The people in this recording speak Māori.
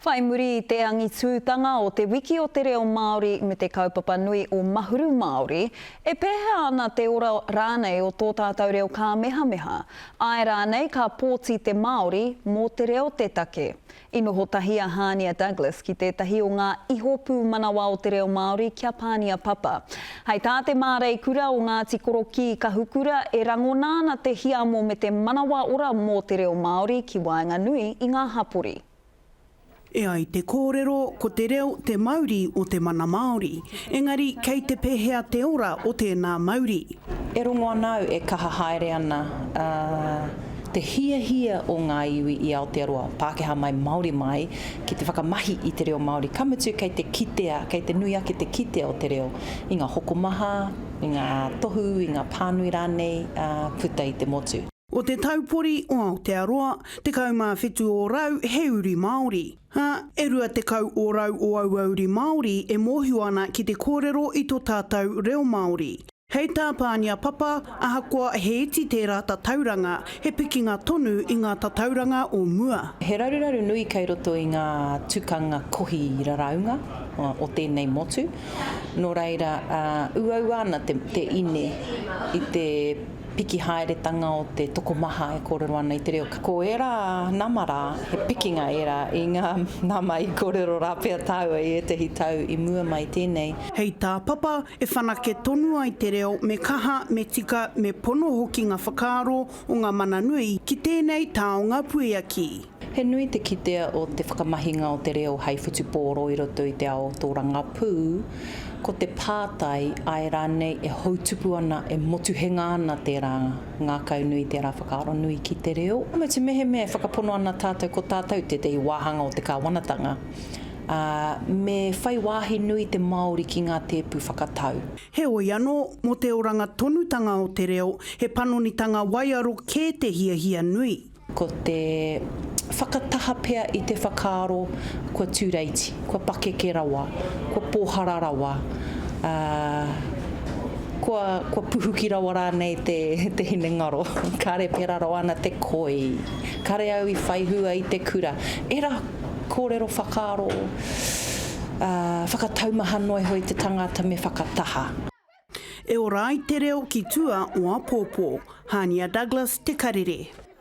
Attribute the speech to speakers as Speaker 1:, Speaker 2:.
Speaker 1: Whai muri i te angitūtanga o Te Wiki o te Reo Māori me te kaupapa nui o Mahuru Māori, e pēhea ana te ora rānei o tō tātou reo kāmehameha? Āe rānei ka pōti te Māori mō te reo te take? I noho tahi a Hānia Douglas ki tētahi o ngā ihopūmanawa o te reo Māori kia Pānia Papa. Hei tā te māreikura o Ngāti Korokī Kahukura e rangona ana te hiamo me te manawa ora mō te reo Māori ki waenganui i ngā hapori. E
Speaker 2: ai te kōrero ko te reo te mauri o te mana Māori, engari kei te pēhea te ora o tēnā mauri? E rongo ana
Speaker 3: au e kaha haere ana te hiahia o ngā iwi i Aotearoa, Pākehā mai, Māori mai, ki te whakamahi i te reo Māori, ka mutu kei te kitea, kei te nui ake te kitea o te reo i ngā hokomaha, i ngā tohu, i ngā pānui rānei puta i te motu. O te taupori
Speaker 2: o Aotearoa, 17 ōrau he uri Māori, ā, e 20 ōrau o aua uri Māori e mōhio ana ki te kōrero i tō tātou reo Māori. Hei tā Pānia Papa, ahakoa he iti tērā tatauranga, he pikinga tonu i ngā tatauranga o mua. He raruraru nui
Speaker 3: kei roto i ngā tukanga kohi raraunga o tēnei motu, nō reira, uaua ana te ine i te piki haeretanga o te tokomaha e kōrero ana i te reo. Ko ērā nama rā, he pikinga ērā i ngā nama i kōrero rā pea tāua i ētahi tau i mua mai tēnei. Hei tā Papa,
Speaker 2: E whanake tonu ai te reo me kaha, me tika, me pono hoki ngā whakaaro o ngā mana nui ki tēnei taonga puiaki. He nui te
Speaker 3: kitea o te whakamahinga o te reo hei whutupōro i roto i te ao tōrangapū, ko te pātai, āe rānei e houtupu ana, e motuhenga ana tērā ngākau nui, tērā whakaaro nui ki te reo. Mutu mehemea e whakapono ana tātou ko tātou tētahi wāhanga o te kāwanatanga, ā, me whai wāhi nui te Māori ki ngā tēpu whakatau. Heoi anō,
Speaker 2: mō te oranga tonutanga o te reo, he panonitanga waiaro kē te hiahia nui. Ko te
Speaker 3: whakataha pea i te whakaaro kua tūreiti, kua pakeke rawa, kua pōhara rawa, ā, kua, kua puhuki rawa rānei te, te hinengaro. Kāre pērā rawa ana te koi. Kāre au i whaihua i te kura. Ērā. Kōrero whakaaro ā, whakataumaha noa iho i te tangata me whakataha.
Speaker 2: E ora ai te reo ki tua o apōpō. Hania Douglas, Te Karere.